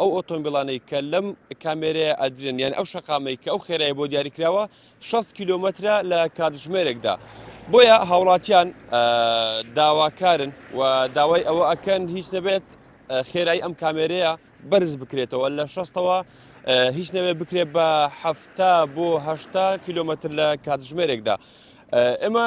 ئەو ئۆتۆمبیڵانەی کە لەم کامێرەیە ئەدرێن یان ئەو شەقامەی کە ئەو خێرای بۆ دیاریکراوە 6 کیلۆمەترە لە کاتژمێرێکدا بۆیە هاوڵاتیان داواکارن و داوای ئەوە ئەکەن هیچ نەبێت خێرای ئەم کامێرەیە بەرز بکرێتەوە لە شەستەوە هیچ نەوێ بکرێت بە هەفتا بۆ هەشتا کیلومتر لە کاتژمێرێکدا ئێمە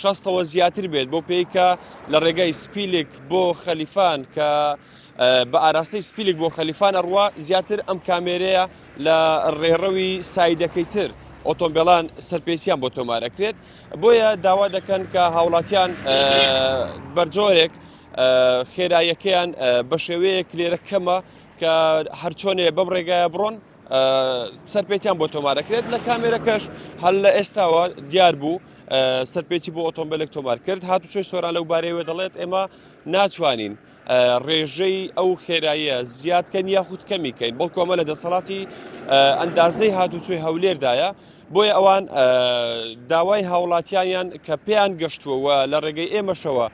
شەستەوە زیاتر بێت بەو پێی کە لە ڕێگای سپیلک بۆ خەلیفان کە بە ئاراستەی سپیلک بۆ خەلیفان ئەڕوا زیاتر ئەم کامێرەیە لە ڕێڕەوی سایدەکەی تر ئۆتۆمبیلان سەرپێچیان بۆ تۆمارەکرێت بۆیە داوا دەکەن کە هاوڵاتیان بەرجۆرێک خێرایەکەیان بە شێوەیەک لێرە کەمە کە هەرچۆنێ بەم ڕێگایە بڕۆن سەرپێچیان بۆ تۆمارەکرێت لە کامێرەکەش هەل لە ئێستاوە دیار بوو سەرپێچی بۆ ئۆتۆمبیلێک تۆمار کرد هاتوچۆی سۆران لەو بارەیەوە دەڵێت ئێمە ناتوانین ڕێژەی ئەو خێراییە زیادکەن یاخود کەمی کەین بەڵ کۆمە لە دەسەڵاتی ئەندازەی هاتوچۆی هەولێردایە بۆیە ئەوان داوای هاوڵاتیانیان کە پێیان گەشتووەوە لە ڕێگەی ئێمەشەوە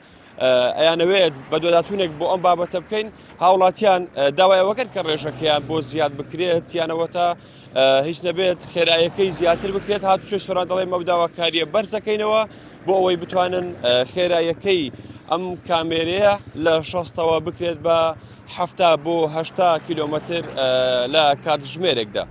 ئەیانەوێت بەدواداچوونێک بۆ ئەم بابەتە بکەین هاوڵاتیان داوای ئەوەکرد کە ڕێژەکەیان بۆ زیاد بکرێت یانەوەتە هیچ نەبێت خێرایەکەی زیاتر بکرێت هاتوچێ سۆران دەڵێ مەوداواکاریە بەرزەکەینەوە بۆ ئەوەی بتوانن خێرایەکەی ئەم کامێرەیە لە شەستەوە بکرێت بە حەفتا بۆ هەشتا کیلۆمەتر لە کاتژمێرێکدا.